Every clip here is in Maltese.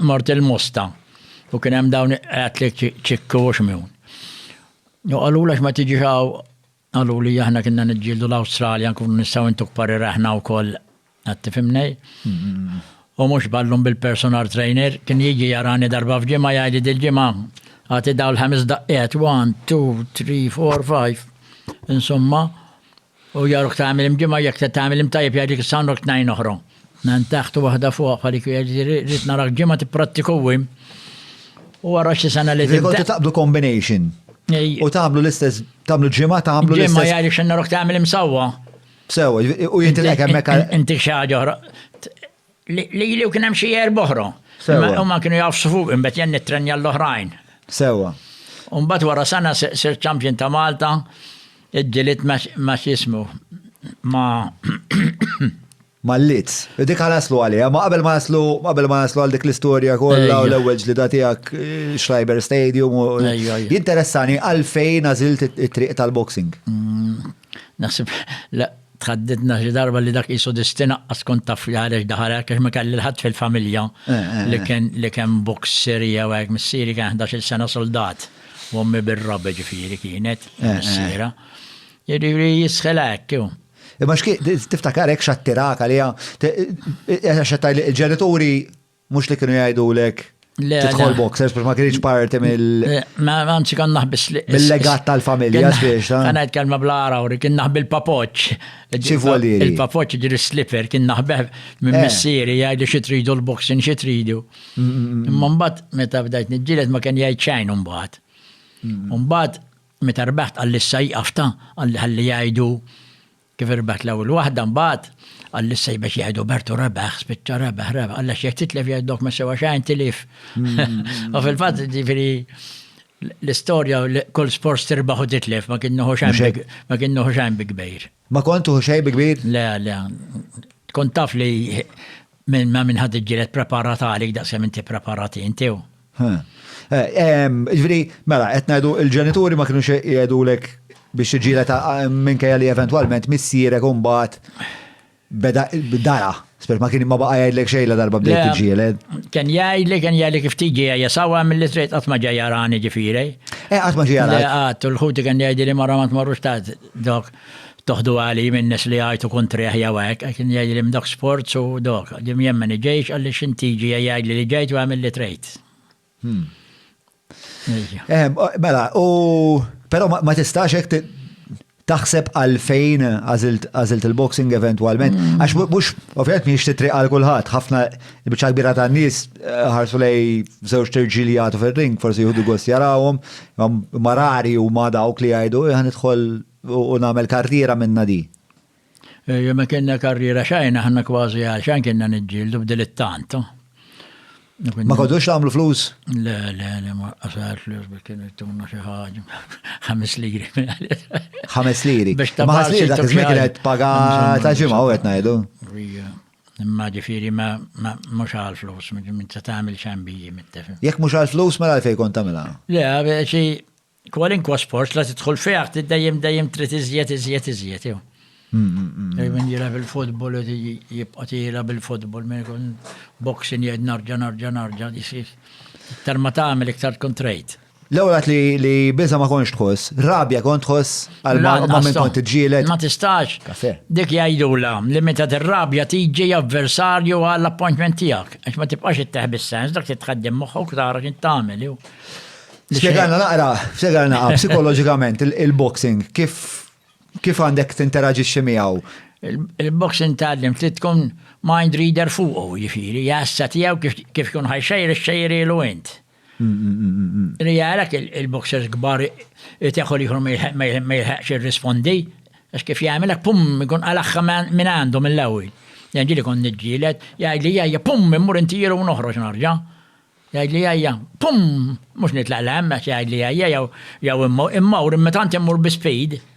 Mort il-Mosta u kien hemm dawn qatli ċikku u xmjun. U qalula x'ma tiġix hawn qalu li aħna kienna niġġieldu l-Awstralja nkunu nistgħu intuk parir aħna wkoll qed tifhimnej. U mhux ballum bil-personal trainer kien jiġi jarani darba f'ġimgħa jgħidli dil-ġimgħa għati daw l-ħames daqqiet 1, 2, 3, 4, 5 insomma U jarok tagħmel imġimgħa jekk se tagħmel imtajjeb jgħid dik is-sawn rok tnejn oħra. Nan taħt u waħda fuq bħal dik rrid narak ġimgħa tipprattiku wim. U wara xi sena li tibda. Kontu taqbdu combination. U tagħmlu l-istess, tagħmlu ġimgħa tagħmlu l-istess. Ġimgħa jgħid xi narok tagħmel imsawwa. Sew, u jintilek hemmhekk. Inti xi ħaġa oħra. Lili u kien hemm xi erba' oħra. Sewwa. Huma kienu jgħafsu fuqi, imbagħad jien nittrenja l-oħrajn. Sewwa. U mbagħad wara sena sirt champion ta' Malta, iġġilidt ma' x'jismu, ma'. Mal-Leeds. Dik ħa naslu għaliha, ma qabel ma naslu, qabel ma naslu għal dik l-istorja kollha u l-ewwel ġlida tiegħek Schreiber Stadium u. Ejja. Jinteressani għalfejn għażilt it-triq tal-boxing. Naħseb li tħaddidna xi darba li dak qisu distin aqqas kont taf li ħareġ daħal hekk għax ma kelli l-ħadd fil-familja li kien li kien boxer jew hekk. Missieri kien ħdax-il sena suldat u ommi bir-rabi ġifieri kienet missiera. Jiġifieri jistħilha hekk hu. Imma x'kien tiftakar hekk x'attirak għaliha? Għax qed tgħidli l-ġenituri Mhux li kienu jgħidulek tidħol boxers biex ma kienx parti mill. Eh, ma anzi kan naħbis li. Mill-legat tal-familja spiex. Kan ngħid kelma bl-ara u kien naħbi l-papoċ. Ċivolieri. Il-papoċ ġiri slipper kien naħbeh minn eh. missieri jgħidu xi tridu l-boxing xi tridu. Mm, mm, mm, Imma mbagħad meta bdajt niġġieled ma kien jgħid xejn mbagħad. Mbagħad meta rbeħt għall-issa jqafta għalli ħalli jgħidu Kif irbħet l-ewwel waħda mbagħad, qal li s-sejbeċ jgħidu Bertu rebaħ, spiċċa rebaħ, rebaħ, qal għax jekk titlef jgħidlok ma sewa xejn tilif. U fil-fatt ġifieri l-istorja kull sport tirbaħ u titlef ma kien nuħu xejn ma kien nuħu xejn bi kbir. Ma kont tuħu xejn bi kbir? Le, le. Tkun taf li minn ma minn ħadd iġġieled preparat għalik daqskemm inti preparat inti. Ġifieri, mela, qed ngħidu l-ġenituri ma kinux jgħidulek biex tiġġieled minkejja li eventwalment missierek u mbagħad beda dara. Spert ma kien ma baqa' jgħidlek xejn la darba bdejt tiġġieled. Kien jgħidli, kien jgħidli kif tiġi għajja sawa milli trid qatt ma ġej jarani ġifieri. Eh qatt ma ġie jarani. Qatt, u l-ħuti kien jgħidli mara ma tmorrux ta' dok. Toħdu għali min-nies li jgħajtu kuntrih jew hekk, għax kien jgħidli minn dawk sports u dok. Jien jien ma niġix għaliex int tiġi e jgħidli li ġejt u għamil li trid. Mela, u però ma tistax hekk taħseb għalfejn għażilt il-boxing eventwalment, għax mhux ovvjament mhix titri għal kulħadd, ħafna Il-biċċa kbira ta' nies eh, ħarsu lej żewġ terġiel li jagħtu fir-ring, forsi jieħdu gost jarawhom, marari u ma dawk li jgħidu eh, ħan idħol u nagħmel karriera minna di. Eh, Jemma kienna karriera xajna ħanna kważi għal xajn kienna niġġieldu b'dilettant. Ma kodux għamlu flus? Le, le, le, ma għasar flus biex kienu jtuna xi ħaġa. Ħames liri. Ħames liri. Biex ta' ħames liri dak iż-żmien kienet paga ta' ġimgħa u qed ngħidu. Imma ġifieri ma mhux għal flus, minn se tagħmel xambiji mit-tifel. Jekk mhux għal flus mela għalfejn kont tagħmilha? Le, xi kwalinkwa sport la tidħol fih trid dejjem dejjem trid iżjed iżjed iżjed jew. Min jilgħab il-futbol jibqa' jilgħab il-futbol minn ikun boxing jgħid narġa' narġa' narġa' jisir. Iktar ma tagħmel iktar tkun trejt. L-ewwel għat li biża ma konx tħoss, rabja kont tħoss għal ma minn kont iġġielet. Ma tistax. Dik jgħidula li meta tirrabja tiġi avversarju għall appointment tiegħek. Għax ma tibqax itteħ bis-sens dak titħaddim moħħok tara x'int tagħmel. Spjegalna naqra, spjegalna naqra psikoloġikament il-boxing kif kif għandek tinteraġixxi miegħu. Il-boxing tgħallim trid tkun mind reader fuqu, jiġifieri jassa tiegħu kif tkun ħajxejr ixxejrilu int. Li jarak il-boxers gbar teħu liħor ma jilħaqx il-rispondi, għax kif jgħamilek pum, jkun għalaxħa minn għandu mill-ewel. Jgħid li kon nġilet, jgħid li jgħajja pum, immur inti jiru noħroġ narġa. Jgħid li jgħajja, pum, mux nitlaq l-għem, jgħid li jgħajja, jaw immur, imma tanti immur bi speed,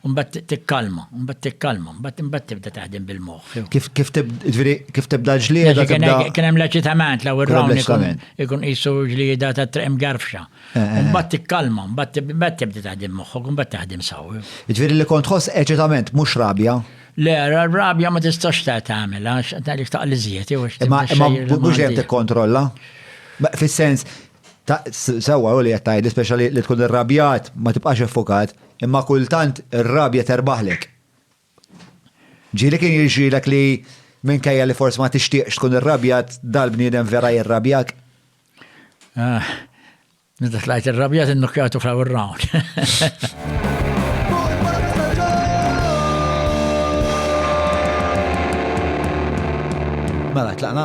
U mbagħad tikkalma, u mbagħad tikkalma, mbagħad imbagħad tibda taħdem bil-moħħ. Kif kif kif tibda ġlieda tibda. Kien hemm l-eċitament l-ewwel round ikun qisu ġlieda ta' triq mgarfxa. Eh, eh, eh. Mbagħad tikkalma, mbagħad tibda taħdem moħħok, mbagħad taħdem saw. Ġifieri li kont ħoss eċitament mhux rabja. Le, rabja ma tistax ta' tagħmel għax tagħlek taqal iżjed jew Imma mhux hemm tikkontrolla. Fis-sens, sewwa u li qed tgħid, speċjali li tkun irrabjat ma tibqax effukat. Imma kultant ir-rabja terbaħlek. Ġieli kien jiġrilek li minkejja li forsi ma tixtieqx tkun irrabjat, dal-bniedem vera jirrabjak? Ah, meta tlajt irrabjat innukkjatu fl round. Mela, tlaqna?